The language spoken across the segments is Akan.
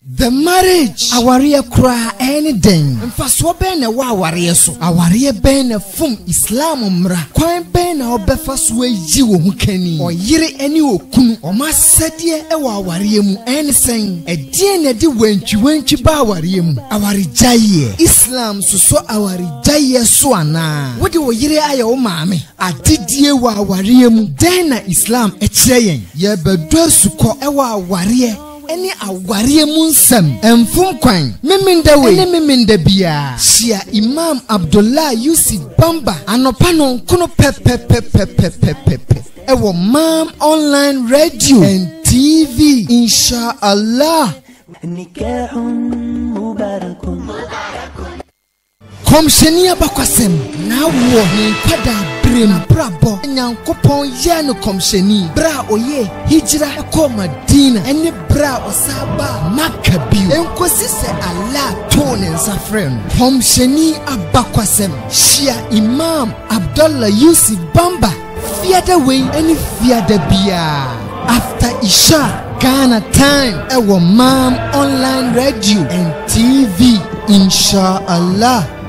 The marriage, awareɛ koraa, ɛɛ ne dɛn? Mfasoɔ bɛn na ɛwɔ awareɛ so? Awareɛ bɛn na ɛfom Islam mmara? Kwan bɛn na wobɛfa so ayi wo ho kani? Ɔyere ne okunu, wɔn asɛdeɛ wɔ awareɛ mu, ɛɛ ne sɛn? Ɛdeɛn na ɛde wantwiwantwi ba awareɛ mu? Awaregyaeɛ, Islam sosɔ awaregyaeɛ so anaa? Wode wo yere ayɛ wo maame? Adedie wɔ awareɛ mu, dɛn na Islam kyerɛ yɛn? Yɛrebɛdɔ asukɔ wɔ awareɛ ne awareɛ mu nsɛm, mfom kwan, Memenda wei ne memenda biara. Hyia Imam Abdullah Yusuf Bamba anɔpa nonkono pɛpɛpɛpɛpɛpɛpɛpɛ wɔ Maam Online Radio and TV, Inshallah. Nikahun Mubarakun. Kɔmhyɛni abakɔsɛm, na wɔ ne nkwa daa bere mu n'abrabɔ, Nyankopɔn yɛɛ no kɔmhyɛni bere a ɔyɛɛ hijra kɔɔ Madina ne bere a ɔsan baa Makkah bio, enkosi sɛ Allah too ne nsa frɛɛ no. Kɔmhyɛni abakɔsɛm, Shia Imam Abdallah Yusuf Bamba, Fiada wei ɛne fiada biara after isha Ghana time ɛwɔ Maam online radio and TV inshallah.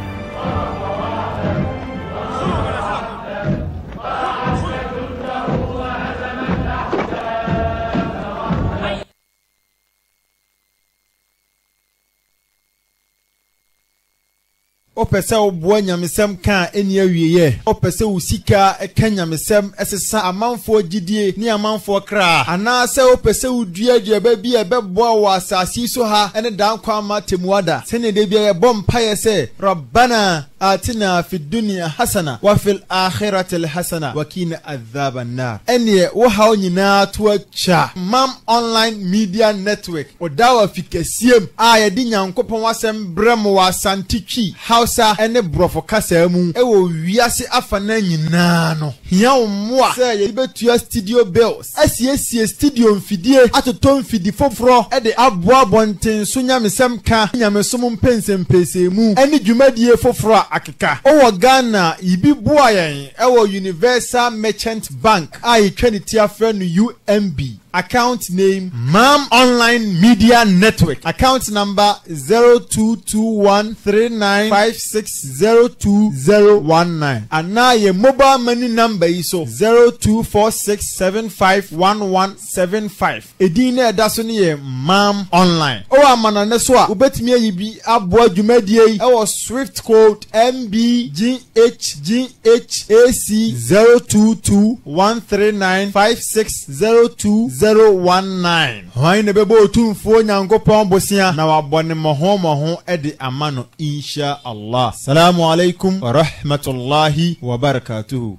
Wopɛ sɛ woboa nyamesɛm ka a ɛnni awieɛ? Wopɛ sɛ wo sika ka nyamesɛm, sesa amanfoɔ gyidie ne amanfoɔ kra? Anaasɛ wopɛ sɛ wodua aduaba bi a ɛbɛboa wo wɔ asase yi so ha ne daa nkwa ama atemmuada, sɛdeɛ da biara yɛbɔ mpaeɛ sɛ, Rabbana aatina fi dunia hasana wa fil aakhiratili hasana wa qina adhaaba naar? Ɛnneɛ wo haw nyinaa to Ca Mam Online Media Network Odawa fi kɛseɛ mu a yɛde Nyankopɔn asɛm brɛ mo wɔ Asante Twi, Hausa ne Brɔfo kasaa mu wɔ wiase afanaa nyinaa no hia wo mmoa sɛ yɛde bɛtua studio bills, asiesie studio mfidie, atotɔ mfidi foforɔ de aboa abɔnten so nyamesɛm ka ne nyamesom mpɛnsɛmpɛsɛmu ne dwumadie foforɔ a akeka. Wowɔ Ghana a, yibi boa yɛn wɔ Universal Merchant. Bank a yɛtwa ne ti afrɛ no UMB, account name, Mam Online Media Network, account number, zero two two one three nine five six zero two zero one nine, anaa yɛn mobile money number yi so, zero two four six seven five one one seven five. Edin no a ɛda so no yɛ Mam Online. Wɔ amanɔnne so a, wobetumi ayi bi aboa dwumadie yi wɔ Swift Code MBGHGH AC 022139560219. Hwan na ɛbɛbɔ Otumfoɔ Nyankopɔn bosea na wabɔ no mmɔho mmɔho de ama no Insha Allah. Salamu Alaikum Warahmatullahi Wabarakatuhu.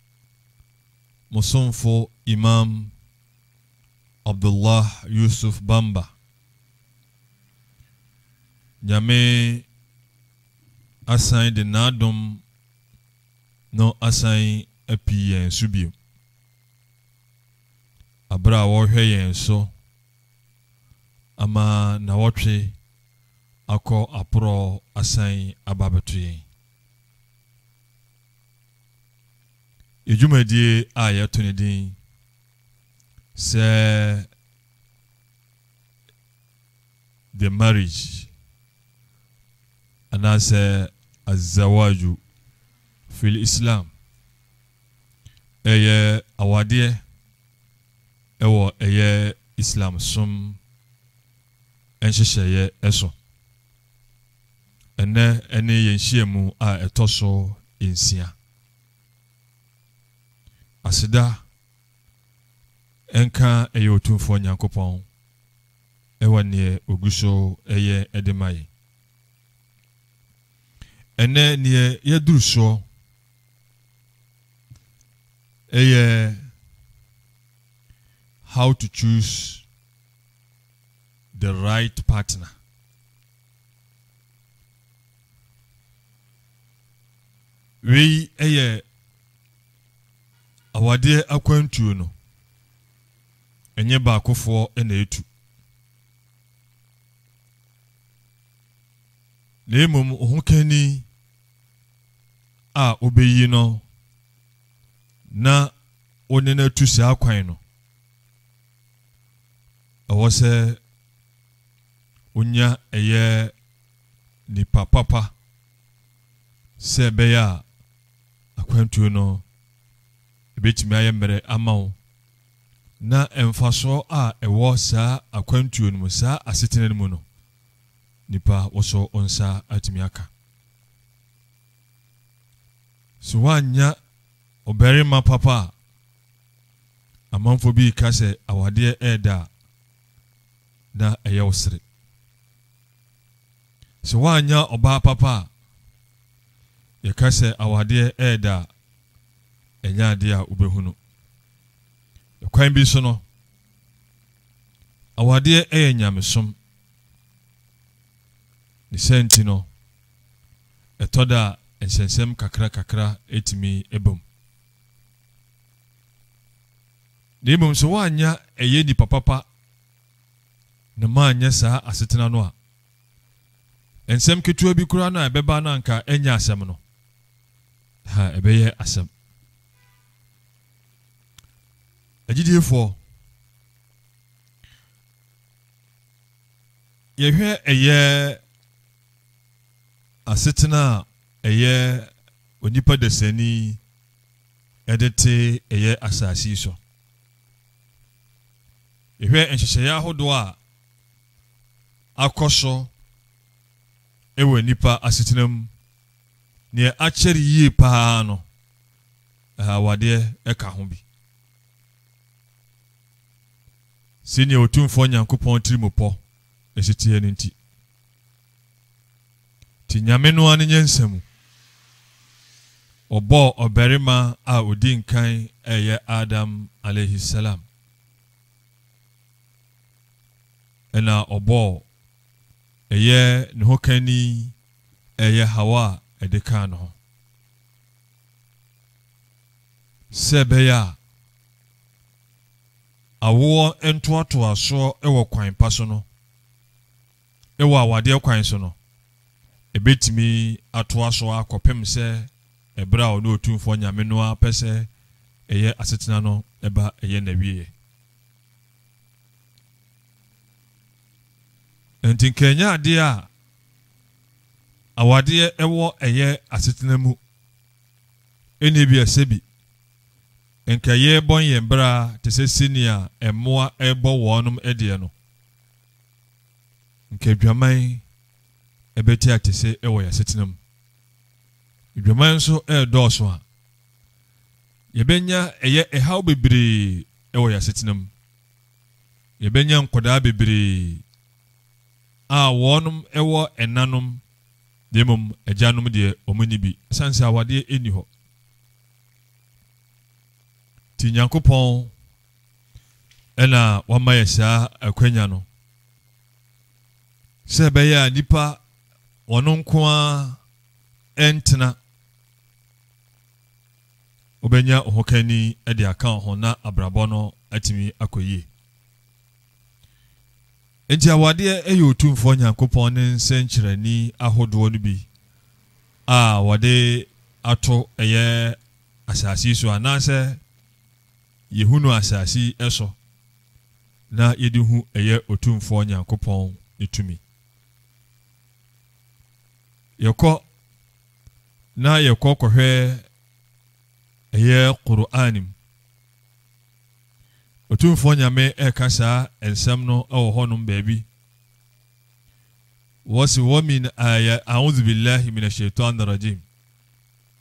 mo somfo Imam Abdullah Yusuf Bamba, Nyame asan de N'adom no asan api yɛn so bio, aberɛ a wɔrehwɛ yɛn so ama nawɔtwe akɔ aporɔ asan aba abɛto yɛn. Yɛn dwumadie a yɛato ne din sɛ The Marriage anaasɛ Azawaju fil Islam ɛyɛ awadeɛ ɛwɔ ɛyɛ Islam som nhyehyɛeɛ ɛso. Ɛnnɛ ne yɛn nhyiamu a ɛtɔ so nsia. Aseda nka yɛn Otumfoɔ Nyankopɔn wɔ neɛ Ogu so yɛ de ma yɛn. Ɛnnɛ neɛ yɛaduru soɔ yɛ How to choose the right partner. Wei yɛ awadeɛ akwantuo no, ɛnyɛ baakofoɔ na ɛtu. Na mmom ɔhokani a wobɛyi no na wone no atu saa kwan no, ɛwɔ sɛ onya ɛyɛ nipa papa sɛ ɛbɛyɛ a akwantuo no ɛbɛtumi ayɛ mmerɛ ama wo na mfasoɔ a ɛwɔ saa akwantuo no mu saa asetena no mu no nipa wɔsɔ nsa atumi aka so woannya ɔbarima papa a amanfoɔ bi ka sɛ awadeɛ ɛɛda a na ɛyɛ wo sere. Sɛ woannya ɔbaa papa a, yɛka sɛ awadeɛ reda a, ɛnyɛ adeɛ a wobɛhunu. Ɛkwan bi so no, awadeɛ yɛ nyamesom. Ne sɛ nti no, ɛtɔ da a nsɛnsɛm kakra kakra tumi bam. Na mmom sɛ woannya ɛyɛ nipa papa na moannyɛ saa asetena no a, nsɛm ketewa bi koraa no a ɛbɛba no anka ɛnyɛ asɛm no, ha ɛbɛyɛ asɛm. Agyidiefoɔ, yɛhwɛ ɛyɛ asetena a ɛyɛ onipa dasani de te yɛ asase yi so. Yɛhwɛ nhyehyɛeɛ ahodoɔ a akɔ so wɔ nnipa asetena mu, neɛ akyɛre yie paa no, awadeɛ ka ho bi. Sɛnea Otumfoɔ Nyankopɔn tirimupɔ ɛsiteɛ no nti, Nti Nyame no ara ne nyansa mu, ɔbɔɔ ɔbarima a ɔdi nkan ɛyɛ Adam alaihi-salam, ɛna ɔbɔɔ ɛyɛ ne hokanni ɛyɛ Hawa a ɛde kaa ne ho, sɛ ɛbɛyɛ a awoɔ ntoatoasoɔ wɔ kwan pa so no, wɔ awadeɛ kwan so no, ɛbɛtumi atoa so ara kɔpem sɛ ɛberɛ a Ɔno Otumfoɔ Nyame no ara pɛ sɛ ɛyɛ asetena no ba ɛyɛ n'awieɛ. Ɛnti nka ɛnyɛ adeɛ a awadeɛ ɛwɔ ɛyɛ asetena mu, ɛnni bi a sɛbi nka yɛrebɔn yɛn bra te sɛ senea mmoa rebɔ wɔnom deɛ no. nka adwaman ɛbɛte atese wɔ yɛn asetena mu. Adwaman nso ɛredɔɔso a, yɛbɛnya ɛyɛ ɛhaw bebree wɔ yɛn asetena mu. Yɛbɛnya nkwadaa bebree a wɔn wɔ ɛnanom na mmom agyanom deɛ wɔn nni bi, ɛsiane sɛ awadeɛ nni hɔ. Nti Nyankopɔn na wama yɛ saa akwanya no sɛ ɛbɛyɛ a nipa wɔn nko ara ntena wobɛnya ɔhokani de aka ho na abrabɔ no atumi akɔ yie nti awadeɛ yɛ otumfoɔ nyankopɔn ne nsɛnkyerɛni ahodoɔ no bi a wɔde ato ɛyɛ asase so anaasɛ Yehu no asase yi so, na yɛde hu ɛyɛ Otumfoɔ Nyankopɔn ne tumi. Yɛkɔ na yɛkɔ kɔhwɛ ɛyɛ Qur'an mu. Otumfoɔ Nyame ɛka saa nsɛm no wɔ hɔnom baabi. Wɔsi wɔ min aya, a'udhu billahi min ash-shaytan rajim.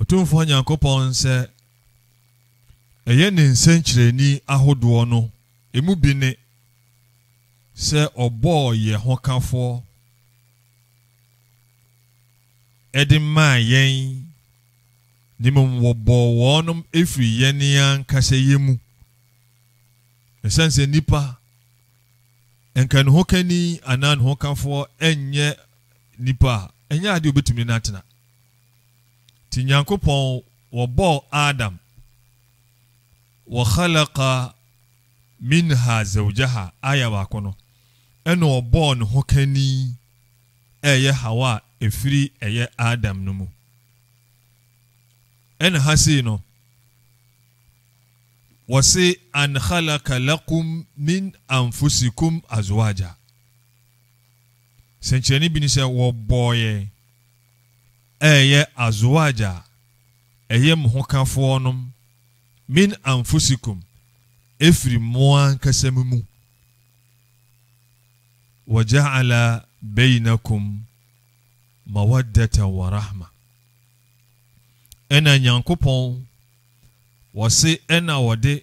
Otumfoɔ Nyankopɔn sɛ ɛyɛ ne nsɛnkyerɛnni ahodoɔ no, emu bi ne, sɛ ɔbɔɔ yɛ hokafoɔ de maa yɛn, na mmom wɔbɔɔ wɔnom firi yɛn ankasa yɛ mu, ɛsiane sɛ nnipa, nka ne hokani anaa ne hokafoɔ nyɛ nnipa a, ɛnyɛ adeɛ a obɛtumi ne no atena. Nti Nyankopɔn wɔbɔɔ Adam Wa khalaqa minha zawjaha aya baako no, ɛna ɔbɔɔ ne ho kani ɛyɛ Hawa a ɛfiri ɛyɛ Adam no mu. Ɛna ha sei no, wɔse an khalaqa lakum min anfusikum azwaja. Sɛnkyerɛnne bi ne sɛ wɔbɔɔ yɛn ɛreyɛ azwaj a ɛyɛ mo hokafoɔ nom, min anfusikum, ɛfiri mo ankasa mo mu, wa ja'ala beinakum mawaddatan wa rahma, ɛna Nyankopɔn wɔse ɛna wɔde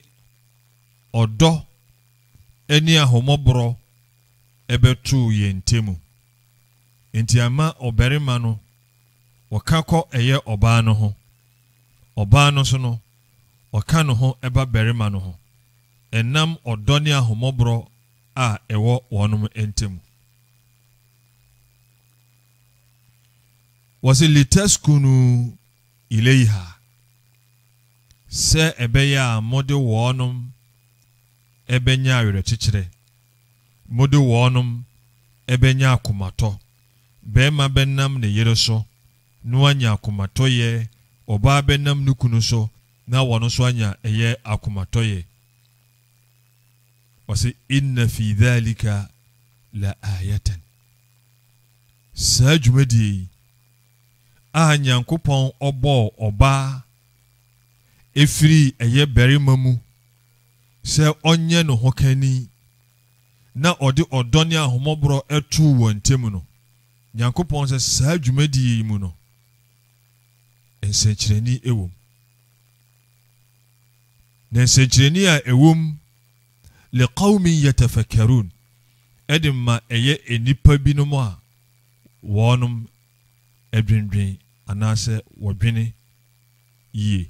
ɔdɔ ɛne ahomɔborɔ ɛbɛtoo yɛn ntɛmu. enti ɛma ɔbarima no ɔka kɔ ɛyɛ ɔbaa no ho, ɔbaa no nso no ɔka ne ho ɛba barima no ho, ɛnam ɔdɔ ne ahomɔborɔ a ɛwɔ wɔnom ntamu. Wɔse litaskunu ileiha, sɛ ɛbɛyɛ a mode wɔnom ɛbɛnya awerɛkyekyerɛ. Mode wɔnom bɛnya akomatɔ, bɛɛma bɛnam ne yere so na wanya akomatɔyɛ, ɔbaa bɛnam ne kunu so na ɔno nso anya ɛyɛ akomatɔyɛ. Ɔse, Inna fii dhalika la ayatan. Saa dwumadie yi a Nyankopɔn ɔbɔɔ ɔbaa firii ɛyɛ barima mu, sɛ ɔnyɛ ne hokani na ɔde ɔdɔ ne ahummɔborɔ too wɔn ntam no, Nyankopɔn sɛ saa dwumadie yi mu no, nsɛnkyerɛnni wom. Na nsɛnkyerɛnni a ɛwom, liqawmin yatafakkarun, ɛde ma ɛyɛ nnipa binom a wɔnom ɛdwendwen anaasɛ wɔdwene yie.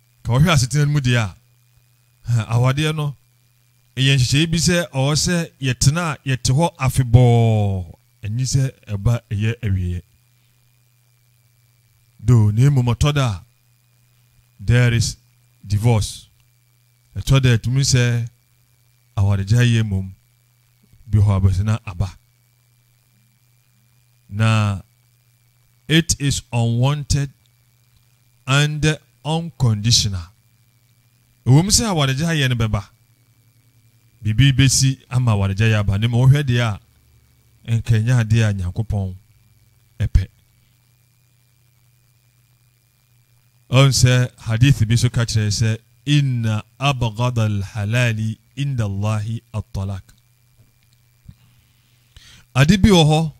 Ka wɔhwɛ asetena no mu deɛ a, awadeɛ no yɛ nhyehyɛeɛ bi sɛ ɔwɔ sɛ yɛtena a yɛte hɔ afebɔɔ, ɛnye sɛ ɛba ɛyɛ awieɛ. Do, na mmom ɔtɔ da a, there is divorce. Ɛtɔ da a ɛtumi sɛ awaregyaeɛ mmom bi hɔ abɛsena aba. na it is unwanted and unconditional. Ɛwom sɛ awaregyaeɛ no bɛba, biribi bɛsi ama awaregyaeɛ aba, na mmom wohwɛ deɛ a nka ɛnyɛ adeɛ a Nyankopɔn ɛpɛ. Ɔn sɛ hadith bi so ka kyerɛ sɛ inna abghada alhalali inda Allahi at-talaq. Ade bi wɔ hɔ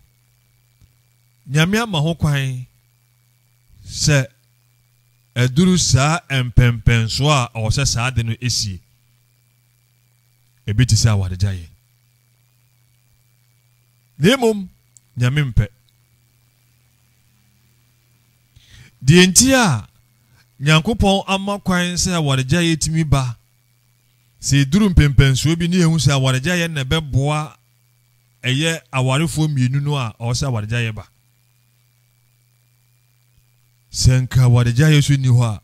Nyame ama ho kwan sɛ ɛduru saa mpɛmpɛnsoɔ a ɔwɔ sɛ saa ade no esie. Ebi te sɛ awaregyaeɛ. Na mmom Nyame mpɛ. Deɛ nti a Nyankopɔn ama kwan sɛ awaregyaeɛ tumi ba, sɛ ɛduru mpɛmpɛnsoɔ bi ne yɛhu sɛ awaregyaeɛ na ɛbɛboa ɛyɛ awarefoɔ mmienu no a, ɔwɔ sɛ awaregyaeɛ ba. Sɛ nka awaregyaeɛ so nni hɔ a,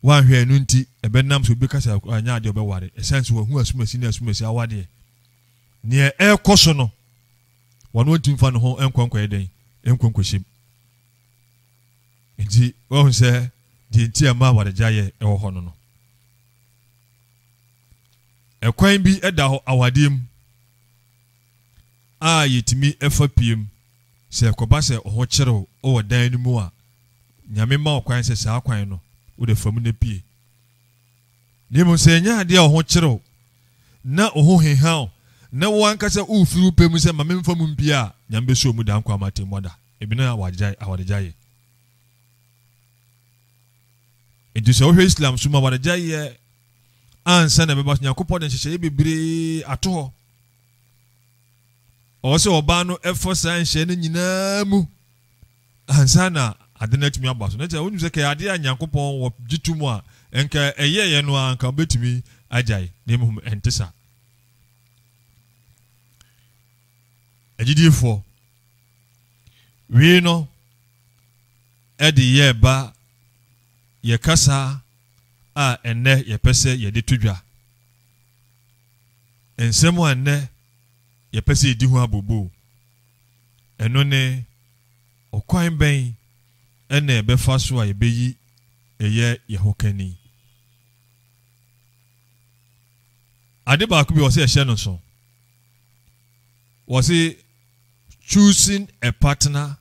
wanhwɛ ɛno nti ɛbɛnam sɛ obi ka sɛ anyɛ adeɛ ɔbɛware ɛsiane sɛ wahu asumasi ne asumasi awadeɛ neɛ ɛrekɔ so no Ɔno nti mfa ne ho nkɔ nkɔyɛ dɛn? Nkɔ nkɔhyem. Nti wahu sɛ deɛ nti a ɛma awaregyaeɛ ɛwɔ hɔ no no. Ɛkwan bi da hɔ awadeɛ mu a yɛtumi fa piem sɛ ɛkɔba sɛ ɔho kyerew wɔ dan no mu a, Nyame ma ɔkwan sɛ saa kwan no wode fa mu na pie. Na mmom sɛ ɛnyɛ ade a wo ho kyere wo, na wo ho heha wo, na wo ankasa wufiri wo pɛ mu sɛ, 'Ma memfa mu mpue' a, Nyame beso wo mu da nkwa ama atemmu ada. Ebino a wɔagyae, awaregyaeɛ. Enti sɛ wohwɛ Islam som mu a, awaregyaeɛ ansa na ɛbɛba so. Nyankopɔn de nhyehyɛeɛ bebree ato hɔ. Ɔwɔ sɛ ɔbaa no fa saa nhyehyɛeɛ no nyinaa mu ansa na ade no atumi aba so. Na kyerɛ, wonim sɛ kɛyɛ ade a Nyankopɔn wɔ gye to mu a, nka ɛyɛeɛ no ara nka wobɛtumi agyae, na mmom ɛnte saa. Agyidifoɔ, wei no ɛde yɛ ba yɛ kasa a ɛnnɛ yɛpɛ sɛ yɛde to dwa. Nsɛm a ɛnnɛ yɛpɛ sɛ yɛdi ho abobo. Ɛno ne, Ɔkwan bɛn na yɛbɛfa so a yebeyi yɛ yɛn ho kani? Ade baako bi a wɔsɛ yɛhyɛ no nso. Wɔse choosing a partner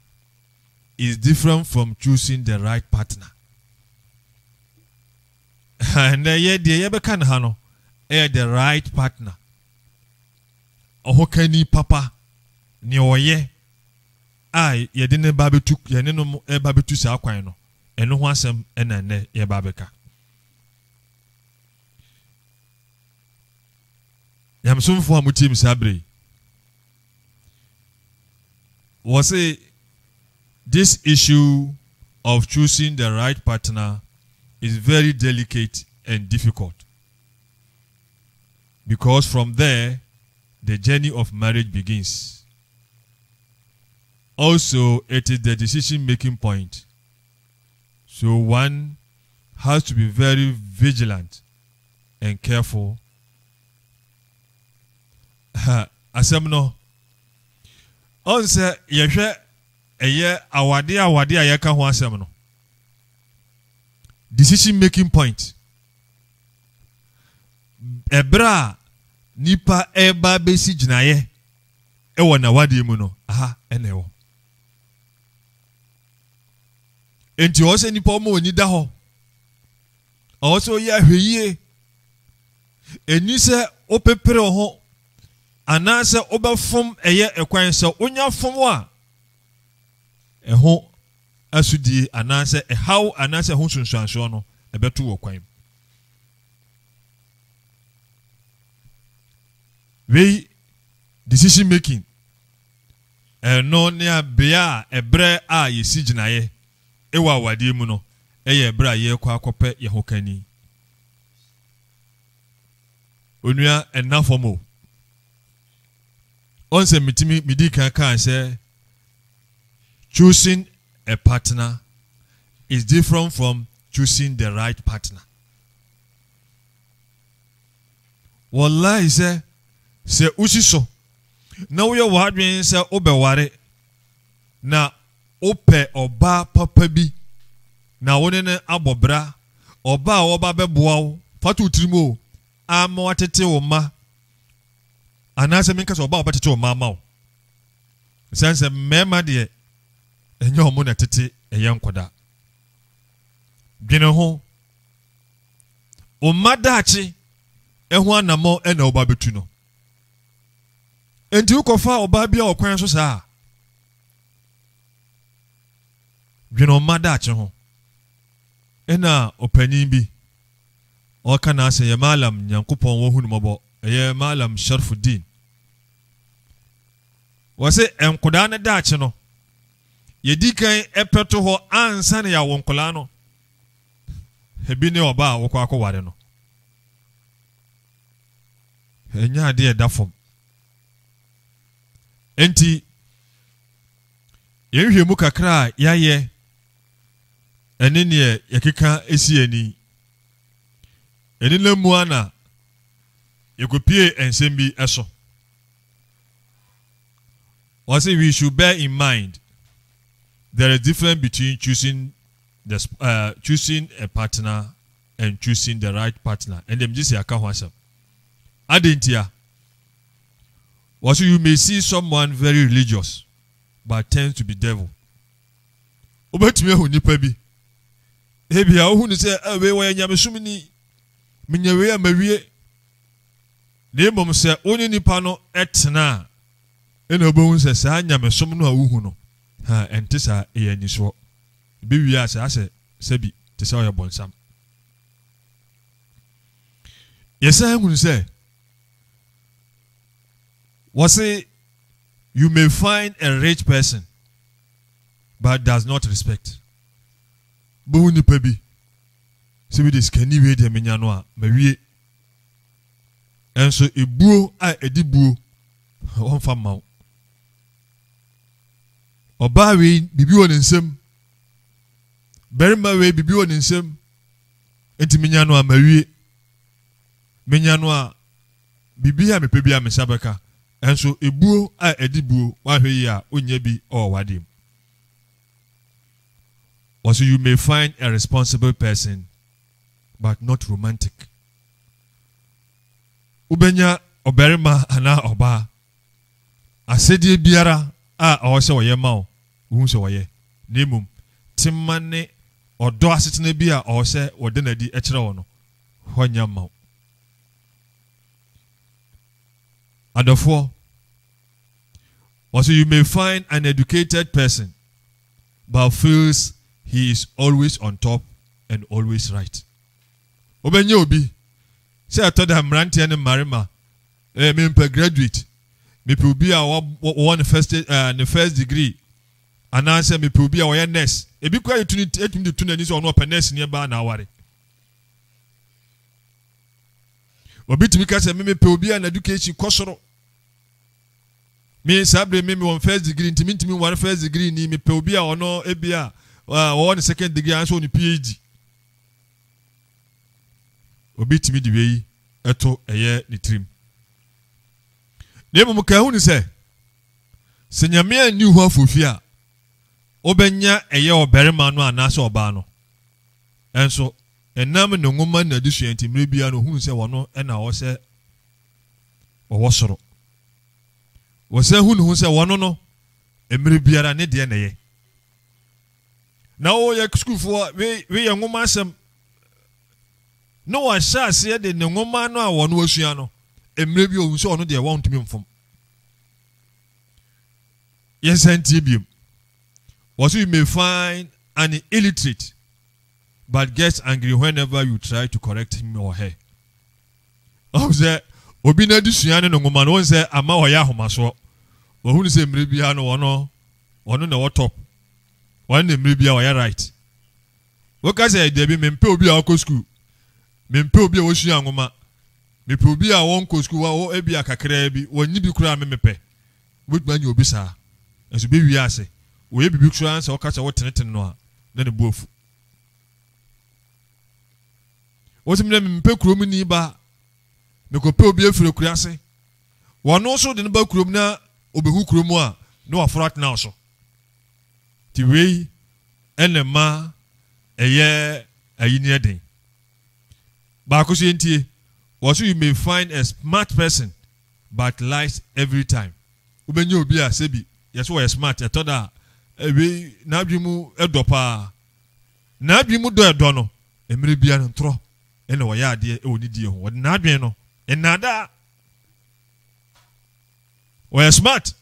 is different from choosing the right partner. Ɛnɛ yɛ deɛ yɛbɛka no ha no ɛyɛ the right partner. ɔhokani papa, nea ɔyɛ a yɛde ne ba betu yɛne no ba betu saa kwan no, ɛno ho asɛm na nnɛ yɛba abɛka. Nyamesomfo a motie me saa bere yi, wɔ se this issue of choosing the right partner is very delicate and difficult. because from there the journey of marriage begins also it is the decision making point so one has to be very vigilant and careful ha asɛm no ɔn sɛ yɛhwɛ ɛyɛ awade awade a yɛka ho asɛm no decision making point ɛberɛ a nipa ɛreba abɛsi gyinaeɛ ɛwɔ n'awadeɛ mu no aha ɛna ɛwɔ nti ɔwɔ sɛ nipa ɔma ɔni da hɔ ɔwɔ sɛ ɔyɛ ahwɛyie ɛni sɛ wopepere ho anaasɛ wobɛfom ɛyɛ ɛkwan sɛ wonya fom a ɛho asodie anaasɛ ɛhaw anaasɛ ɛho nsunsuansoɔ no, ɛbɛto wɔ kwan mu. Wei decision making ɛno ne abea a ɛberɛ a yɛsi gyinaeɛ ɛwɔ awadeɛ mu no ɛyɛ ɛberɛ a yɛrekɔ akɔpɛ yɛn ho kani. Onua ɛnna fam o. Wɔn sɛ mitumi midi kan kan sɛ choosing a partner is different from choosing the right partner. Wɔlae sɛ sɛ wosi so na woyɛ w'adwene sɛ wobɛware na wopɛ ɔbaa papa bi na wo ne no abɔ bra ɔbaa a wɔba bɛboa wo fa to tirim o ama watete wo mma anaasɛ menka sɛ ɔba a ɔbɛtete ɔma ama wo. Ɛsiane sɛ mmarima deɛ ɛnyɛ ɔmo na ɛtete ɛyɛ nkɔda. Dwene ho. Ɔma daakye ɛho anamɔ ɛna ɔba bɛtu no. Enti wokɔfa ɔbaa bi a ɔkwan so saa a, dwene ɔma daakye ho. Ɛna ɔpanyin bi ɔreka n'asɛm yɛ Mallam Nyankopɔn wɔ hu no mɔbɔ ɛyɛ Mallam Sharfuddin wɔse nkodaa no daakye no yɛdi kan ɛpɛ to hɔ ansa na yɛawo nkodaa no ebi ne ɔbaa a wokɔ akɔware no ɛnyɛ adeɛ ɛda fam enti yɛnhwɛ mu kakra a yɛayɛ ɛne neɛ yɛkeka si ani. Ɛnenam mu ana yɛkɔpie nsɛm bi so. Wɔse we should bear in mind there is difference between choosing the uh, choosing a partner and choosing the right partner and them just yɛaka ho asɛm adentia wɔso you may see someone very religious but tends to be devil Wobɛtumi ahu nnipa bi. Ebia wohu no sɛ, ah, wei wɔyɛ nyamesom ni. Menya wei a mawie. Na mmom sɛ wo ne nnipa no tena a, ɛna wobɛhu sɛ saa nyamesom no a wohu no, ha ɛnte saa, ɛyɛ anisoɔ. Ebi wie a saa sɛ sɛbi te sɛ ɔyɛ bɔnsam. Yɛsan hunu sɛ wɔse You may find a rich person but does not respect. Wobɛhu nipa bi sɛ bi de sikani wei deɛ menya no a mawie. Ɛnso ebuo a ɛdi buo wɔmfa mma wo. Ɔbaa wei biribi wɔ ne nsam. Barima wei biribi wɔ ne nsam. Nti menya no a mawie. Menya no a biribi a mepɛ bi a me nsa bɛka. Nanso ebuo a ɛde buo, woanhwɛ yie a wonnya bi wɔ w'adeɛ mu. Wɔse you may find a responsible person but not romantic. Wobɛnya ɔbarima anaa ɔbaa asɛdeɛ biara a ɔwɔ sɛ ɔyɛ ma wo, wohu sɛ ɔyɛ, na mmom tema ne ɔdɔ asetena bi a ɔwɔ sɛ wɔda no adi kyerɛ wo no, hɔ nyɛ mma wo. Adɔfoɔ, wɔse you may find an educated person but feels he is always on top and always right. Wobɛnya obi sɛ ɛtɔ da mmeranteɛ ne mmarima eh, mempɛ graduate mepɛ obi a wɔwɔ ne first, uh, ne first degree anaasɛ mepɛ obi a wɔyɛ nurse ebi kora yɛtumi de tu n'ani sɛ ɔno ɔpɛ nurse neɛ baa na aware Obi tumi ka sɛ me mepɛ obi a n'education kɔ soro. Me saa bere me me wɔn first degree nti mintumi nware first degree ni mepɛ obi a ɔno ebi a ɔwɔ ne second degree anso ne PhD. Obi tumi de wei ɛto ɛyɛ ne tirim. Na mmom ka ehu ne sɛ sɛ nyame anni ho afofi a wobɛnya ɛyɛ ɔbarima no anaasɛ ɔbaa no Nanso, ɛnam ne nwoma ne n'adesua nti, mmere biara no ohuu sɛ ɔno na ɔwɔ sɛ ɔwɔ soro. Ɔsan hu ne ho sɛ ɔno no, mmere biara ne deɛ na ɛyɛ. Na ɔyɛ sukuufoɔ, weyɛ nwoma asɛm. Na wahyɛ aseɛ de ne nwoma no a ɔno asua no, mmere bi ohun sɛ ɔno deɛ wɔntumi mfom. Yɛnsan ntie biom. Wɔ so you may find an illiterate but gets angry whenever you try to correct him or her. Ɔhu sɛ obi n'adesua ne no nwoma no, wɔn sɛ ama ɔyɛ ahomasoɔ. Wɔhunu sɛ mmerɛ biara no wɔn wɔn na ɛwɔ top. Wɔn na mmerɛ biara wɔyɛ right. Woka sɛ dabi mempɛ obi a ɔkɔ sukuu, mempɛ obi a wɔsua nwoma, mepɛ obi a wɔnkɔ sukuu, ebi a kakraa bi, wɔnyi bi koraa me mepɛ. Wobɛtumi anya obi saa, nanso bɛ wie ase. Ɔyɛ biribi koraa na sɛ woka sɛ wotenetene no a, na ne bo afu. Wɔse mena mempɛ kurom ni ba, mekɔpɛ obi afiri akura ase. Wɔno nso de no ba kurom na ɔbɛhu kurom a, na waforo atena wo so. Nti wei ɛna ma ɛyɛ ayinneɛ den. Baako nso yɛntie. Wɔse you may find a smart person but lies every time. Wobɛnya obi a sɛbi yɛse wɔyɛ smart ɛtɔ da a ɛwei n'adwene mu ɛdɔ paa. N'adwene mu dɔ ɛdɔ no mmerɛ bia no ntorɔ ɛna wɔyɛ adeɛ ɛwɔ ne die ho. Wɔde n'adwene no nnaadaa. Wɔyɛ smart.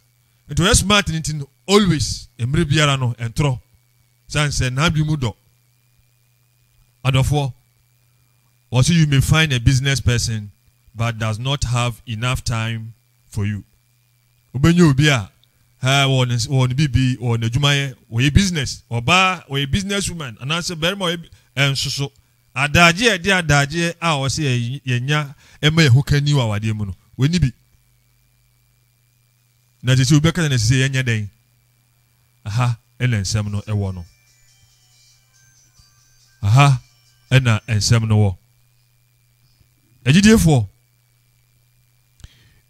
Nti wɔyɛ smart no nti no always mmerɛ biara no ɛntorɔ. Sane sɛ n'adwene mu dɔ. Adɔfoɔ, wɔse you may find a business person but does not have enough time for you. Wobɛnya obi a haa wɔwɔ ne wɔwɔ ne biribi wɔwɔ n'adwumayɛ wɔyɛ business ɔbaa wɔyɛ business woman anaasɛ barima ɔyɛ ɛnso so adagye a ɛde adagyeɛ a ɔsɛ yɛnya ɛma yɛho ka ni wɔ awadeɛ mu no wɔni bi na ɛsɛ sɛ obi bɛka sɛ na ɛsɛ sɛ yɛnyɛ dɛn? Aha na nsɛm no wɔ no. Aha na nsɛm no wɔ. Agyidiefoɔ,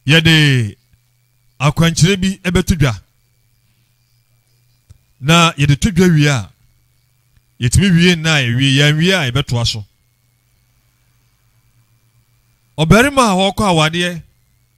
yɛde akwankyerɛ bi bɛto dwa na yɛde to dwa wie a yɛtumi wie nna a yɛwie yɛanwie a yɛbɛtoa so ɔbarima a ɔkɔ awadeɛ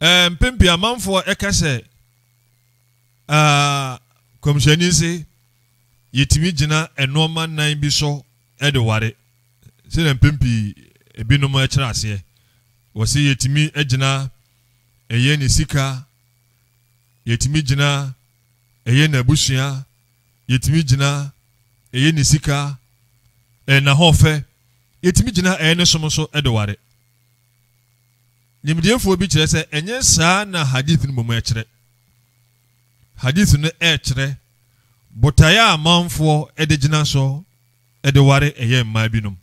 Mpɛn pii amanfoɔ ka sɛ, Kɔmhyɛni se, yɛtumi gyina nnoɔma nnan bi so de ware. Sɛdeɛ mpɛn pii ebinom kyerɛ aseɛ. Wɔse yɛtumi gyina ɛyɛ ne sika, yɛtumi gyina ɛyɛ n'abusua, yɛtumi gyina ɛyɛ ne sika, n'ahoɔfɛ, yɛtumi gyina ɛyɛ ne som so de ware. Nimdeefoɔ bi kyerɛ sɛ ɛnyɛ saa na Hadith no mmom ɛkyerɛ. Hadith no ɛkyerɛ botaeɛ a amanfoɔ de gyina so de ware ɛyɛ mmaa binom.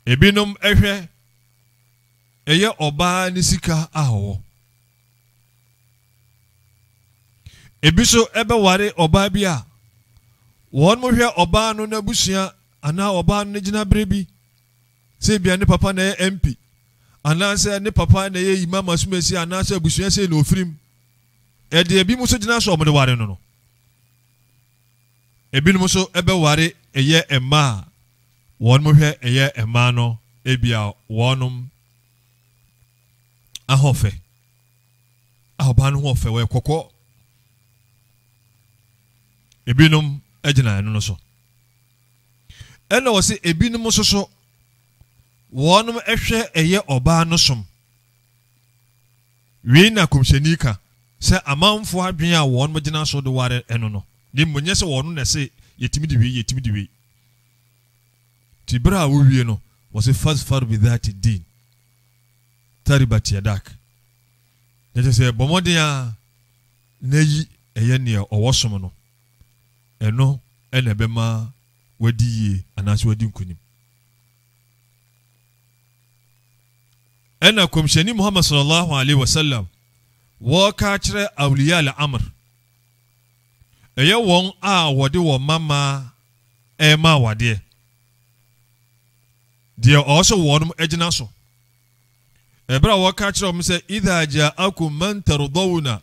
Ebinom ɛhwɛ ɛyɛ ɔbaa ne sika a ɔwɔ. Ebi nso ɛbɛware ɔbaa bi a wɔn hwɛ ɔbaa no n'abusua anaa ɔbaa no ne gyinaberɛ bi sɛ ebia ne papa na ɛyɛ MP anaasɛ ne papa na ɛyɛ Imam asomasi anaasɛ abusua sei na ɔfiri mu. Ɛde ebinom nso gyina sɛ wɔde ware no no. Ebinom nso bɛware ɛyɛ mmaa a wɔn hwɛ ɛyɛ mmaa no ebia wɔnom ahɔfɛ a ɔbaa no ho ɔfɛ wɔyɛ kɔkɔɔ ebinom gyina ɛno no so Ɛna ɔse ebinom nso so wɔnom ɛhwɛ ɛyɛ ɔbaa no som. Wei na Komhyɛni ka sɛ amanfoɔ adwene a wɔnom gyina so de ware ɛno no, ne mmom nyɛ sɛ wɔnom na ɛse yɛtumi de wei, yɛtumi de wei. Nti berɛ a wowie no, wɔse fazfar bidhati din taribat yadak. Nɛkyɛ sɛ bɔ mmɔden ara na yi ɛyɛ neɛ ɔwɔ som no. Ɛno na ɛbɛma wadi yie anaasɛ wadi nkonim. Ɛna Kɔmhyɛni Muhammad sallallahu alaihi wasallam wɔka akyerɛ awliya al-amr, ɛyɛ wɔn a wɔde wɔn mmammaa ɛrema awadeɛ, deɛ ɔwɔ sɛ wɔn agyina so. Ɛberɛ a wɔka akyerɛ wɔn sɛ idha ja'akum man tardawna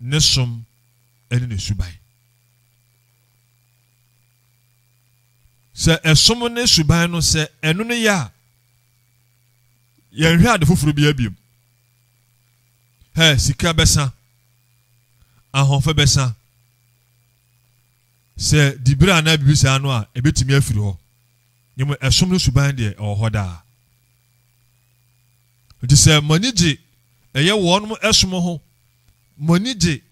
ne som ne ne suban. Sɛ ɛsom ne suban no sɛ ɛno no yɛ a, yɛnhwɛ ade foforɔ bi abiem. Hɛ, sika bɛsa, ahoɔfɛ bɛsa, sɛ dibere anaa biribi saa no a ɛbɛtumi afiri hɔ. Nyɛmu ɛsom no suban deɛ ɛwɔ hɔ daa. Enti sɛ mo ani gye ɛyɛ wɔn som ho, mo ani gye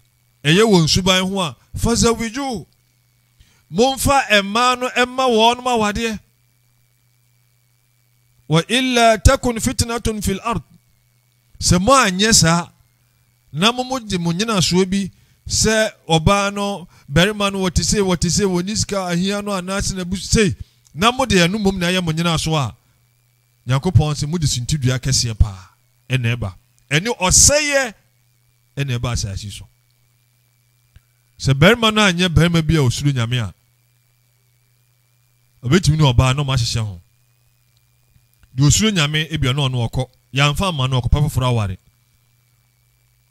ɛyɛ wɔn suban ho a, fazawijuhu, momfa mmaa no mma wɔn awadeɛ. Wa illa takun fitnatun fil ard. Sɛ mo anyɛ saa, na mo mo gye mo nyinasoɔ bi sɛ ɔbaa no barima no wɔte sei wɔte sei wɔn ni sika ahia no anaasɛ na bu sei na mo de ɛno mmom na ɛyɛ mo nyinasoɔ a Nyankopɔn se, Mode suntidua kɛseɛ paa na ɛba, ɛne ɔsɛeɛ na ɛba asaase yi so. Sɛ barima no anyɛ barima bi a ɔsuro Nyame a, ɔbɛtumi ne ɔbaa na ɔmahyehyɛ ho. Deɛ ɔsuro Nyame, ebia na ɔno ɔkɔ, yɛamfa amma no, ɔkɔpɛ foforɔ aware.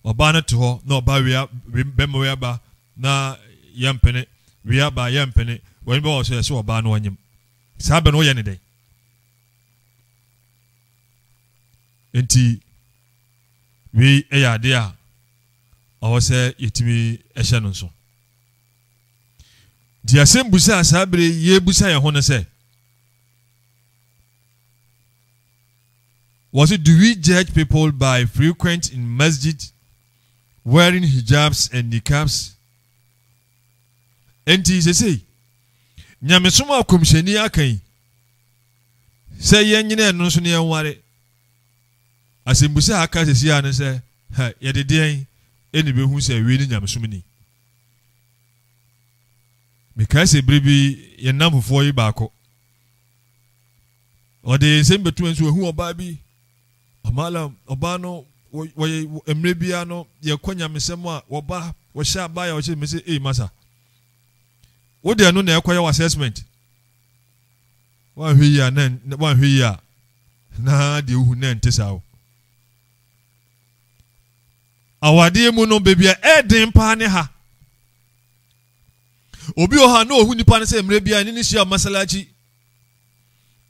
Ɔbaa no te hɔ na ɔbaa wia, bɛma wia ba na yɛmpene, wia ba yɛmpene, wɔne bɛwɔ so yɛse ɔbaa no ɔnyem. Saa bɛ no woyɛ ne dɛn? nti wei yɛ adeɛ a ɔwɔ sɛ yɛtumi hyɛ no nso nti asɛm busa a saa bere yɛbusa yɛn ho no sɛ was it do we judge people by frequent in masjid wearing hijabs and niqabs Enti sesei, nyamesom a kɔmhyɛni aka yi sɛ yɛnyina ɛno so na yɛnware, asɛmbusa a aka sesei a ne sɛ, ha, yɛde deɛn ɛna ɛbɛhu sɛ wei ne nyamesom ni? Mekae sɛ bere bi yɛn nnamfofoɔ yi baako, Ɔde nsɛm bɛto nso wahu ɔbaa bi amala ɔbaa no wɔyɛ mmerɛ biara no yɛkɔ nyamesɛm a wɔba wɔhyɛ abaa yɛ wɔhyɛ mese ei masa wode ɛno na ɛkɔyɛ wɔ assessment wanhwɛ yi a na wanhwɛ yi a na deɛ wohu na ɛnte saa o awadeɛ mu no baabi a ɛden paa ne ha obi wɔ ha na ɔhu nipa no sɛ mmerɛ biara ne ne hyia masala akyi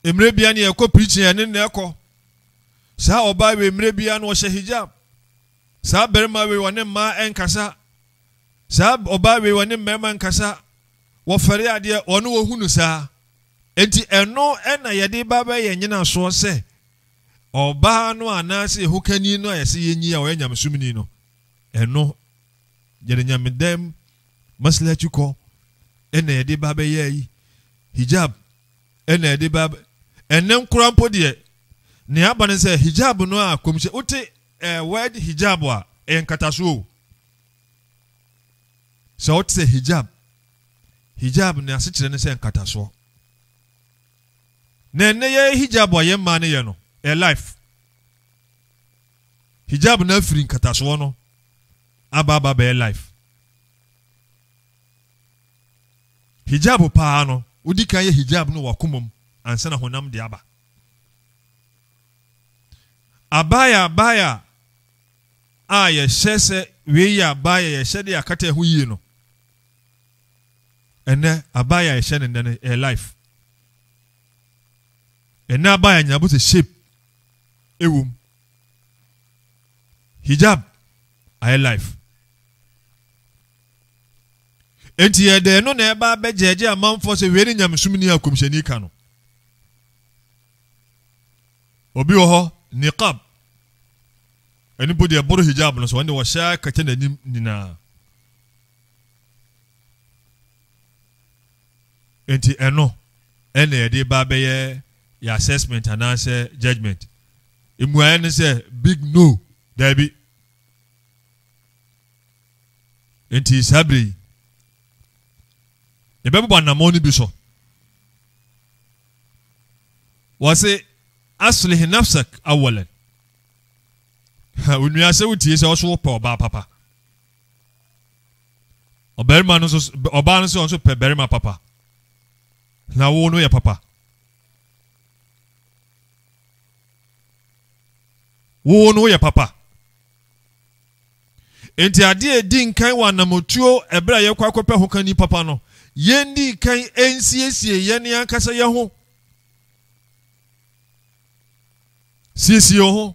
Mmerɛ biara no yɛkɔ preaching a yɛne no na ɛkɔ. Saa ɔbaa wei mmerɛ biara no ɔhyɛ hijab. Saa barima wei ɔne mmaa ɛnkasa. Saa ɔbaa wei ɔne mmarima nkasa. Wɔfɛre adeɛ ɔno wɔhunu saa. Enti ɛno ɛna yɛde ba bɛyɛ nyinasoɔ sɛ ɔbaa no anaasɛ yɛhokani no a yɛsɛ yɛnyi a ɔyɛ nyamesomni no ɛno yɛde nyamedam masilakyi kɔ ɛna yɛde ba bɛyɛ yi hijab ɛna yɛde ba ɛnɛ nkora mpo deɛ nea aba ne sɛ hijab no a kɔmhyɛ wote ɛɛ eh, word hijab a ɛyɛ nkatasoɔ o sɛ wote sɛ hijab hijab ne asekyerɛ ne sɛ nkatasoɔ na ɛnɛ yɛ hijab a yɛ mmaa no yɛ no ɛyɛ life Hijab no afiri nkatasoɔ no aba aba bɛyɛ life. Hijab paa no wodi kan yɛ hijab no wakoma mu ansa na honam de aba. Abaya abaya a yɛhyɛ sɛ wei yɛ abaya yɛhyɛ de akata ɛho yie no ɛnɛ abaya yɛhyɛ no nnɛ no ɛyɛ life. ɛnɛ aba yɛ nyina bɔ sɛ shape ɛwɔ mu hijab ayɛ life enti yɛ dɛ ɛno na ɛba abɛgyɛgye amanfoɔ sɛ wei ne nyamesom ni a kɔmhyɛni ka no obi wɔ hɔ niqab ɛno mpo deɛ ɛboro hijab no so ɔne wɔhyɛ kɛkyɛ n'anim nyinaa Enti ɛno na yɛde reba abɛyɛ yɛn assessment anaasɛ judgement. Mmuaeɛ no sɛ big no, daabi. Enti saa berɛ yi, yɛbɛbobɔ anammɔn no bi so. Wɔse aslih nafsak awalan. Onua sɛ wotie sɛ ɔso wopɛ ɔbaa papa. ɔbarima no nso ɔbaa no sɛ ɔno nso pɛ barima papa na wo no yɛ papa wo no yɛ papa nti adeɛ a ɛdi nkan wɔ anamotuo ɛberɛ a yɛkɔ akɔpɛ ho kani papa no yɛn di nkan nsiesie yɛn ankasa yɛn ho siesie ho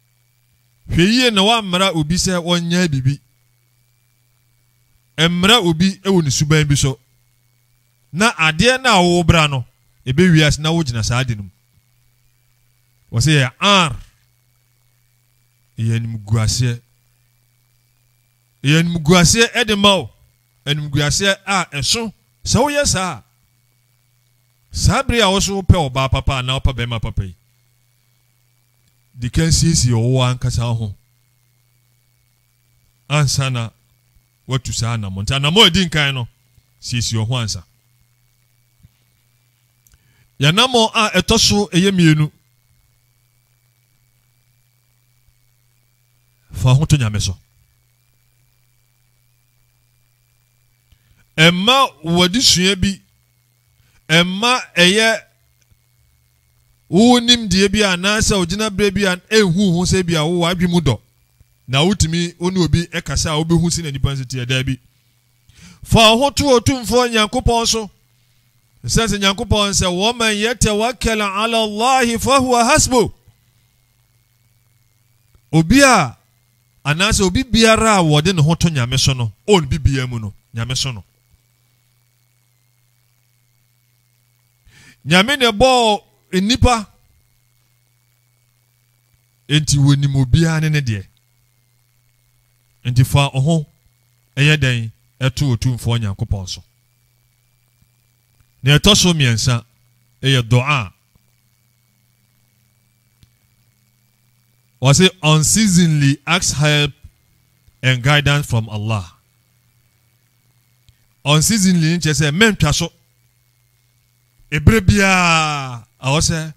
Hwɛ yiye na woammara obi sɛ ɔnyɛ biribi. Mmara obi wɔ ne suban bi so, na adeɛ no a worebra no, ɛbɛwie ase na wogyina saa ade no mu. Wɔsɛ yɛ ar. Ɛyɛ animguaseɛ. Ɛyɛ animguaseɛ de ma wo, animguaseɛ a ɛso sɛ woyɛ saa a. Saa bere a wo so wopɛ ɔbaa papa anaa wopɛ barima papa yi, di kan siesie wo ankasa ho ansa na watu saa anammɔn nti anammɔn edi nkan no siesie ho ansa yɛnammɔn a ɛtɔ so ɛyɛ mmienu fa ho to nyame so ɛma wɔde sua bi ɛmma ɛyɛ wo nimdeɛ bi anaasɛ ogyinaberɛ bi a ɛnhu ho sɛ bi a wowɔ adwe mu dɔ na wotumi wo ne obi kasa a wobɛhu si na nipa nso teɛ daabi fa wo ho to otumfoɔ nyankopɔn so sɛ sɛ nyankopɔn sɛ wɔman yɛtɛwakɛl ala allahi fahuwa hasbo obi a anaasɛ obi biara a wɔde ne ho to nyame so no ɔn bibia mu no nyame so no nyame na ɛbɔɔ nnipa enti wɔnim obiara ne ne deɛ nti fa ɔho ɛyɛ dɛn ɛto otumfoɔ nyankopɔn so na ɛtɔ so mmiɛnsa ɛyɛ dɔa wɔse unceasingly ask help and guidance from allah Unceasingly no kyerɛ sɛ mɛntwa so. Ebere biara ɛwɔ sɛ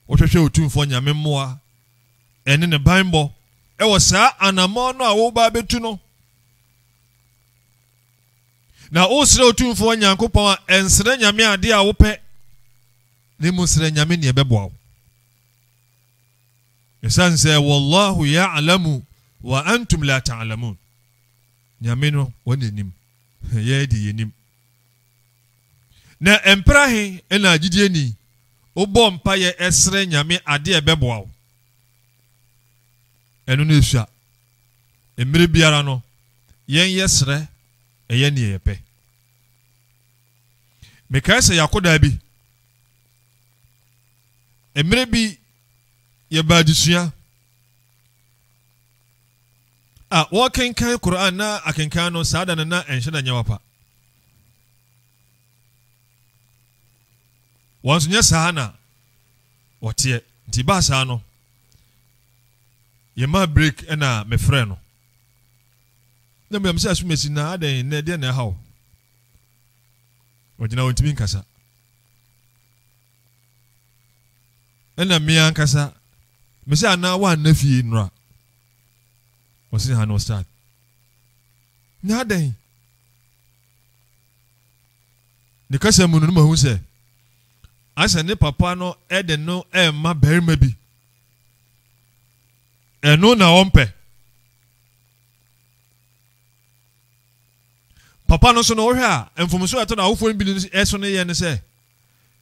wohwehwɛ Otumfoɔ Nyame mmoa ɛne ne banbɔ ɛwɔ saa anammɔn no a woba abɛtu no. Na wosrɛ Otumfoɔ Nyankopɔn a ɛnsrɛ Nyame adeɛ a wopɛ na mmom srɛ Nyame neɛ ɛbɛboa wo. Ɛsiane sɛ wallahu ya'lamu wa antum la ta'lamun. Nyame no hɔn na nyim, hɛn dze yennyim. Na mper ahe na gyidzinyi bɔ mpaeɛ serɛ Nyame ade a ɛbɛboa wo? Ɛno na esua. Mmerɛ biara no, yɛnyɛ serɛ yɛ neɛ yɛpɛ. Mekae sɛ yɛakɔ daa bi, mmerɛ bi yɛba adesua, a wɔrekenkan Qur'aan na akenkan no saa da no na ɛnhyɛ da nyɛ wapa. Wɔn nso nyɛ saa na wɔteɛ. Nti baa saa no, yɛmaa break ɛna mefrɛ no. Na mmea sɛ asumasi na adɛn nnɛ deɛ na ɛha o. Ɔgyina wɔntumi nkasa. Ɛna mmea nkasa, mesɛ anaa wɔanna fie nnora. Ɔse ha no ɔsrad ne adɛn? Ne kasa mu no no mahu sɛ asɛ ne papa no ɛde no ɛma barima bi ɛno na ɔmpɛ papa no so no wohwɛ a mfomso a ɛtɔ no awofoɔ no bi ɛso no yɛ no sɛ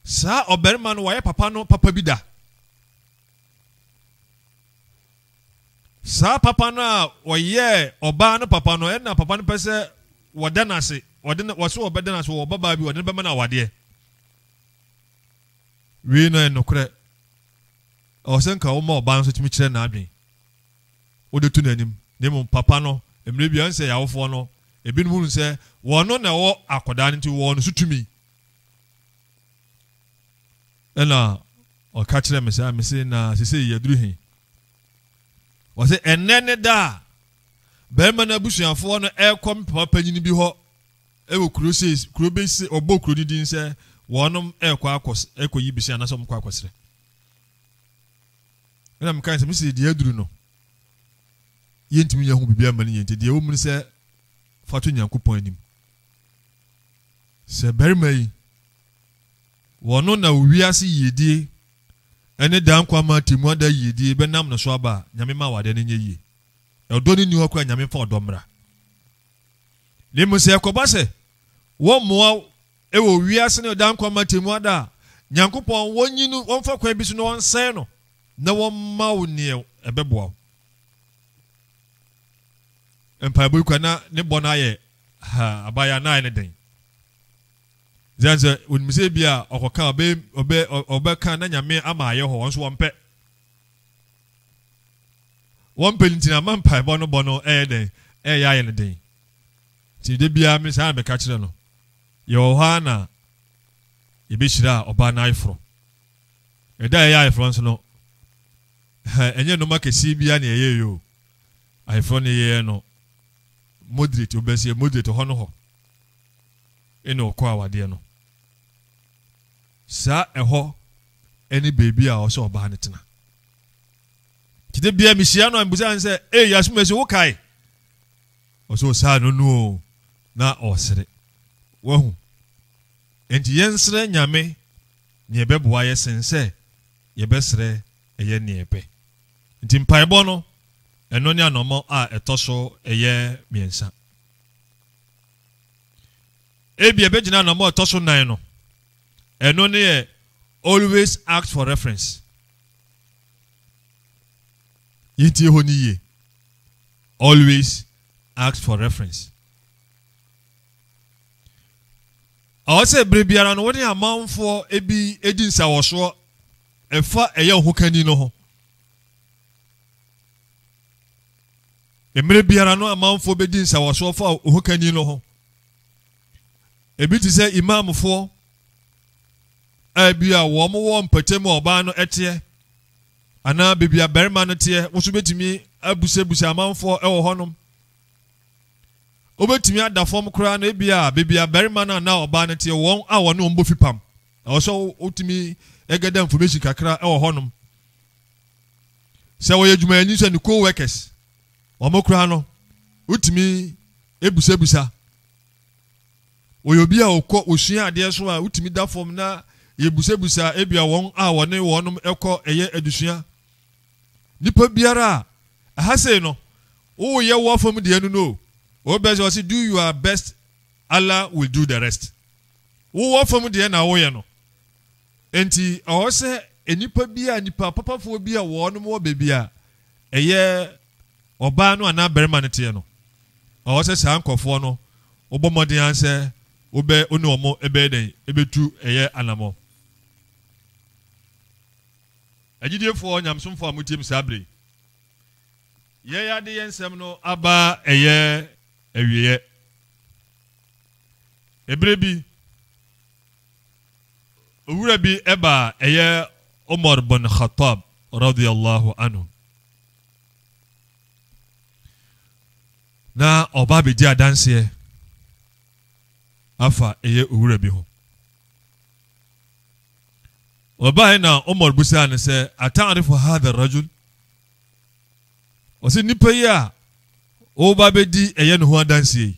saa ɔbarima no wayɛ papa no papa bi da Saa papa no a ɔyɛɛ ɔbaa no papa no, ɛnna papa no pɛ sɛ wɔda no ase, wɔde no, wɔso wɔbɛda no ase, wɔwɔ babaa bi, wɔde no bɛma no awadeɛ. Wei na ɛyɛ nokorɛ. Ɛwɔ sɛ nka woma ɔbaa no nso tumi kyerɛ n'adwene, wode to n'anim, na mmom papa no, mmerɛ bi ɛwɔ sɛ yawofoɔ no, ebinom hunu sɛ wɔn na ɛwɔ akɔdaa no nti wɔwɔ no so tumi. Ɛnna ɔka kyerɛɛ me saa, mise, Na seesei yɛaduru he? Ɔse, Ɛnnɛ ne da a barima no abusuafoɔ no ɛɛkɔ me papa panyini bi hɔ wɔ kuro sei, kuro bi se, ɔbɔɔ kuro no din sɛ wɔnom ɛɛkɔ akɔ, ɛɛkɔ yi bese anaasɛ wɔmkɔ akɔsrɛ. Ɛnna mekae sɛ, mise, deɛ aduru no, yɛntumi nyɛ ho biribi ama no yie nti, deɛ ɛwɔ mu ne sɛ fa to Nyankopɔn anim. Sɛ barima yi Wɔno na wiase yiedie ne daa nkwa mma atemmuada yiedie bɛnam no so aba a Nyame ma awadeɛ no nyɛ yie. Ɔdɔ no nni hɔ koraa a Nyame mfa ɔdɔ mmra. Na mmom sɛ ɛkɔba sɛ wɔmmoa wo wɔ wiase no daa nkwa mma atemmuada a Nyankopɔn wɔnyi no wɔmfa kwan bi so na wɔnsɛe no na wɔmma wo neɛ ɛbɛboa wo. Mpaebɔ yi kura na ne bɔ no ayɛ haa abayɛ anaa ayɛ no den. Then sɛ onim sɛ ebi a ɔkɔka ɔbɛ ɔbɛ ɔbɛka na nyame ama ayɛ hɔ wɔn nso wɔn pɛ wɔn pɛ nti na ama mpaebɔ no bɔ no ɛyɛ dɛn ɛyɛ ayɛ no den ti de bia mi saa bɛka kyerɛ no yɛ wɔ hɔ a na yɛbɛhyira ɔbaa no ayeforo ɛda a ɛyɛ ayeforo nso no ɛnyɛ nnoma kɛseɛ bia na ɛyɛ yɛ o ayeforo no yɛyɛ no moderate wobɛsɛ moderate hɔ no hɔ ɛne ɔkɔ awadeɛ no. Saa ɛhɔ ɛne baabi a ɔsɛ ɔbaa no tena. Nti da biara mehyia no a mbusa no sɛ, ee Yasumasi wo kae? Ɔsɛ ɔsaa no no o na ɔresere. Wahu? Nti yɛnsrɛ Nyame nea ɛbɛboa yɛ sen sɛ yɛbɛsrɛ ɛyɛ nea ɛpɛ. Nti mpaebɔ no ɛno ne anɔmɔ a ɛtɔ so ɛyɛ mmiɛnsa. Ebia ebegyina anammɔn a ɛtɔ so nnan no. Ɛno ne yɛ Always Ask for Reference. Yɛntie hɔ no yie. Always ask for reference. Ɛwɔ sɛ bere biara no wo ne amanfoɔ bi di nsawɔsoɔ ɛfa ɛyɛ ho kani no ho. Mmere biara no amanfoɔ bɛdi nsawɔsoɔ fa ohokani no ho. Ebi te sɛ Imamfoɔ a ebia wɔn wɔ mpɔtam a ɔbaa no teɛ anaa baabi a barima no teɛ nso bɛtumi abusabusa amanfoɔ wɔ hɔnom. Wobɛtumi ada fam koraa no ebia baabi a barima no anaa ɔbaa no teɛ wɔn a wɔne wɔn bɔ fipam. Ɛwɔ sɛ wotumi ɛgɛda information kakra wɔ hɔnom. Sɛ ɔyɛ dwumayɛni nso a, ne co-workers, wɔn koraa no, wotumi ebusabisa. Wɔyɛ obi a ɔkɔ osua adeɛ nso a, wotumi da fam na yɛbusabisa ebia wɔn a wɔne wɔnom kɔ ɛyɛ adesua. Nipa biara a, ɛha sei no, woyɛ wo afam deɛ no no, wobɛ sɛ ɔse do your best, Allah will do the rest. Wowɔ fam deɛ na woyɛ no. Enti ɛwɔ sɛ nnipa bi a, nnipa papafoɔ bi a wɔnom wɔ baabi a ɛyɛ ɔbaa no anaa barima no teɛ no, ɛwɔ sɛ saa nkurɔfoɔ no wobɔ mmɔden ara sɛ wobɛ wo ne wɔn ɛbɛyɛ dɛn ɛbɛtu ɛyɛ anamɔ. Agyidiefoɔ nyamsomfoɔ a motie me saa berɛ yi, yɛn ade yɛn nsɛm no aba ɛyɛ awieɛ. Ebere bi, Owura bi ba a ɛyɛ Umar bin Khattab radiyallahu anhu. Na ɔba abɛgye adanseɛ afa ɛyɛ owura bi ho. Ɔbaeɛ na Umar busaa no sɛ, Ata'arifu hadha rajul? Ɔsɛ nipa yi a woba bɛdi ɛyɛ ne ho adanseɛ yi.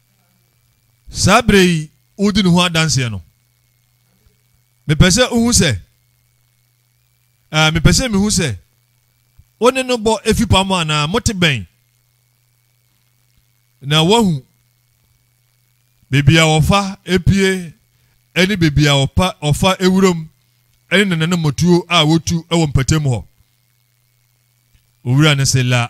saa berɛ yi wodi ne ho adanseɛ no mepɛ sɛ wohu sɛ mepɛ sɛ mehu sɛ wo ne no bɔ efi pa mu anaa mote bɛn na wahu beebi a wɔfa epie ne beebi a wɔpa wɔfa ewuram ne nananom motuo a wotu wɔ mpatamu hɔ owura no se la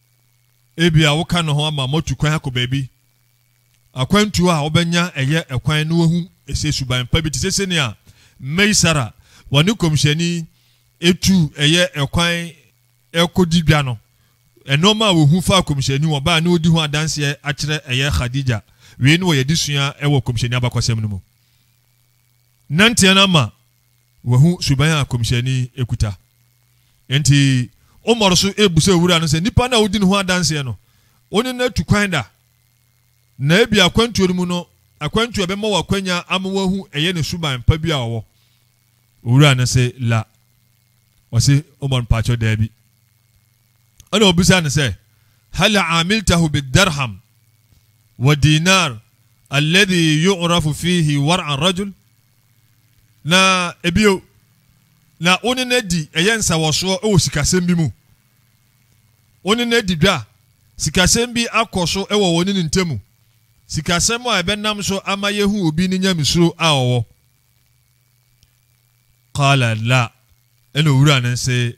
Ebia woka ne ho ama moatu kwan akɔ baabi. Akwantu a wobɛnya ɛyɛ ɛkwan na woahu ɛsɛ suban pa bi te sɛ sɛnea Meisara wɔne nkɔmhyɛni etu ɛyɛ ɛkwan ɛkɔdi dwa no. Ɛnɔɔma a wɔhu fa kɔmhyɛni wɔn baa ne ɔdi ho adanseɛ akyerɛ ɛyɛ Khadija. Wei ne wɔyɛ de sua ɛwɔ kɔmhyɛni abakɔsɛm no mu. Nanteɛ no ama wahu suban a Kɔmhyɛni kuta. Enti Umar so rebisa owura no sɛ, Nipa no a wodi ne ho adanseɛ no, wo ne no atu kwan da? Na ebia akwantuo no mu no, akwantuo a ɛbɛma wo akwanya ama wahu ɛyɛ ne suban pa bi a ɔwɔ. Owura no se, La. Ɔse, Umar, mpaakyɛw, daabi. Ɛna ɔbisaa no sɛ, Hal amiltahu bidarham wa dinar alladhi yu'rafu fihi war' arrajul? Na ebio, na wo ne no adi ɛyɛ nsawɔsoɔ wɔ sikasɛm bi mu? Wo ne no adi dwa, sikasɛm bi akɔ so wɔ wɔ ne no ntamu, sikasɛm a ɛbɛnam so ama yɛhu obi ne nyamesuro a ɔwɔ? Qala la, ɛna owura no se,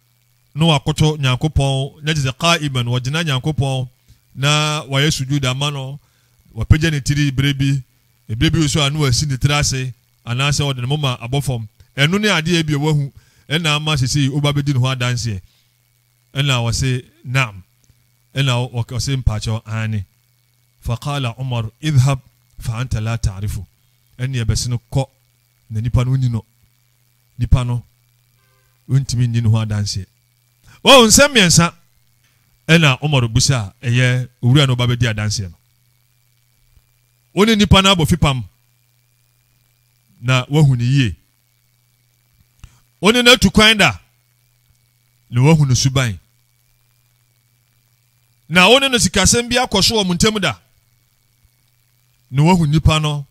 na wɔakoto Nyankopɔn, na kyerɛ sɛ qa'iman, wɔagyina Nyankopɔn na wɔayɛ sujuud ama no, wɔapagya ne tiri berɛ bi, berɛ bi nso a na wasi ne tiri ase, anaasɛ ɔde ne moma abɔ fam. Ɛno ne adeɛ a ebia wahu ɛna ama sesei woba bɛdi ne ho adanseɛ. Ɛna ɔse, Na'am. Ɛna ɔse, Mpaakyɛw, aane. Faqala Umar, Idhhab fa anta la ta'rifu. Ɛneɛ bɛse no, Kɔ, na nipa no wonni no. nipa no ntumi nni ne ho adanseɛ. Wɔn nsɛm mmiɛnsa ɛna Umar bisa a ɛyɛ owura no ba bɛdi adanseɛ no. Wo ne nipa no abɔ fipam na wahu ne yie. Wo ne no atu kwan da na wahu ne suban. Na wo ne no sikasɛm bi akɔ so wɔ mo ntam da. na wahu nnipa no,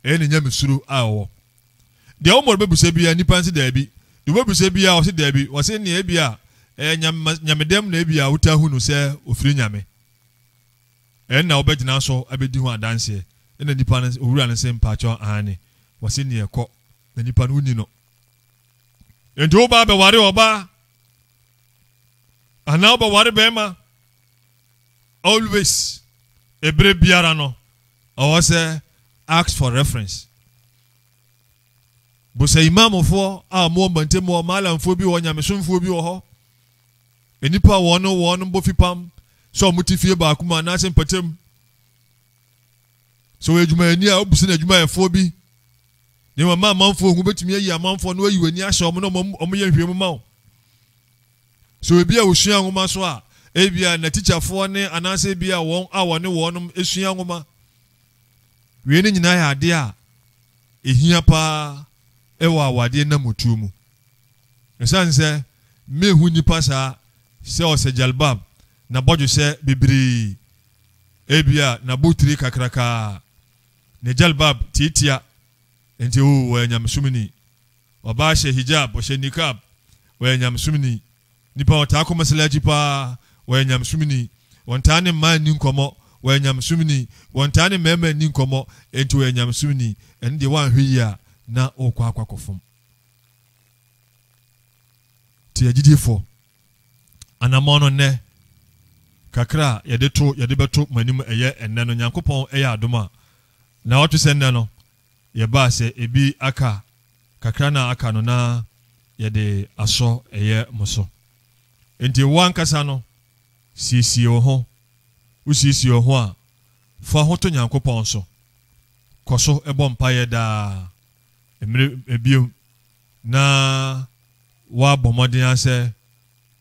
ɛyɛ ne nyamesuro a ɔwɔ. Deɛ wɔn mmɔre bɛbisa biara, nnipa nse daabi. Deɛ wɔbɛbisa biara, ɔse daabi. Wɔse nea ebia ɛyɛ nyame, nyamedɛm na ebia wotaa hu no sɛ ɔfiri nyame. Ɛno na wobɛgyina so abɛdi ho adanseɛ. Ɛna nnipa no, owura no se mpakyɛw aane. Wɔse neɛ kɔ, na nnipa no wonni no. Enti wobaa bɛware ɔbaa anaa wobɛware bɛrima. always ebere biara no ɔwɔ sɛ ask for reference busa imamfoɔ a wɔn ɔmbantam wɔ malamfoɔ bi wɔ nyamesomfoɔ bi wɔ hɔ nnipa a wɔn wɔn bɔ fipam sɛ wɔn ti fie baako mu anaasɛ mpatam sɛ wɔyɛ adwumayɛni a wɔbusa no adwumayɛfoɔ bi ne wɔn ma amanfoɔ ho betumi ayi amanfoɔ no ayi wɔn ani ahyɛ wɔn na wɔn yɛ nhwɛmu ma wɔn. So ebia wusua nwoma so a ebia n'atikyafoɔ ne anaasɛ ebia wɔn a wɔne wɔnom sua nwoma? Wei ne nyinaa yɛ adeɛ a ɛhia paa ɛwɔ awadeɛ namutuo mu. Ɛsiane sɛ mehu nnipa saa sɛ ɔsɛ jalbab, n'abɔdwesɛ bebree, ebia n'abotire kakrakaa, ne jalbab tiatia, nti oo ɔyɛ nyamesomni. Ɔbaa hyɛ hijab, ɔhyɛ niqab, ɔyɛ nyamesomni. Nipa a ɔtaa kɔ masalaci paa, ɔyɛ nyamesomni. Ɔntaa ne mmaa nni nkɔmmɔ, ɔyɛ nyamesomni. Ɔntaa ne mmarima nni nkɔmmɔ, enti ɔyɛ nyamesomni. Ɛno deɛ woanhwɛ yie a, na worekɔ akɔ akɔfom. Nti agyidifoɔ, anammɔn no nnɛ, kakra a yɛde to, yɛde bɛto mo anim ɛyɛ ɛnnɛ no, Nyankopɔn yɛ adom a, na ɔte sɛ nnɛ no, yɛba sɛ ebi aka a, kakra no a aka no na yɛde asɔ ɛyɛ mo so. Enti wo ankasa no, siesie wo ho. Wosiesie wo ho a, fa ho to Nyankopɔn so. Kɔ so bɔ mpaeɛ daa. Mmere ebio na woabɔ mmɔden ara sɛ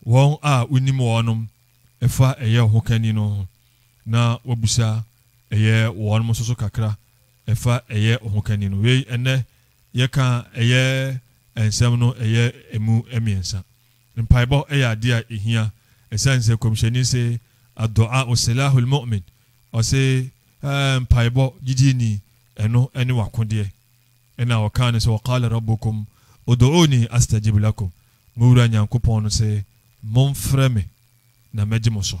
wɔn a wonim wɔnom fa ɛyɛ wo ho kani no ho, na woabisa ɛyɛ wɔnom nso so kakra. ɛfa ɛyɛ ɔhokanni no. Wei, ɛnnɛ yɛka a, ɛyɛ nsɛm no ɛyɛ ɛmu mmiɛnsa. Mpaebɔ ɛyɛ adeɛ a ɛhia, ɛsiane sɛ Kɔmhyɛni se, Addu'aa'u silahul mu'min, ɔse, Ɛɛ, mpaebɔ, gyidini, ɛno ɛne w'akodeɛ. Ɛna ɔkaa no sɛ, Wa qaala Rabbukum udu'uuni astajib lakum, mo Wura Nyankopɔn no se, Momfrɛ me na mɛgye mo so.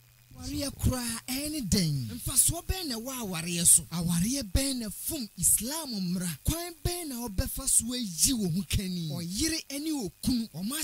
Awareɛ koraa, ɛne dɛn? Mfasoɔ bɛn na ɛwɔ awareɛ so? Awareɛ bɛn na ɛfom Islam mmara? Kwan bɛn na wobɛfa so ayi wo ho kani? Ɔyere ne okunu, wɔn.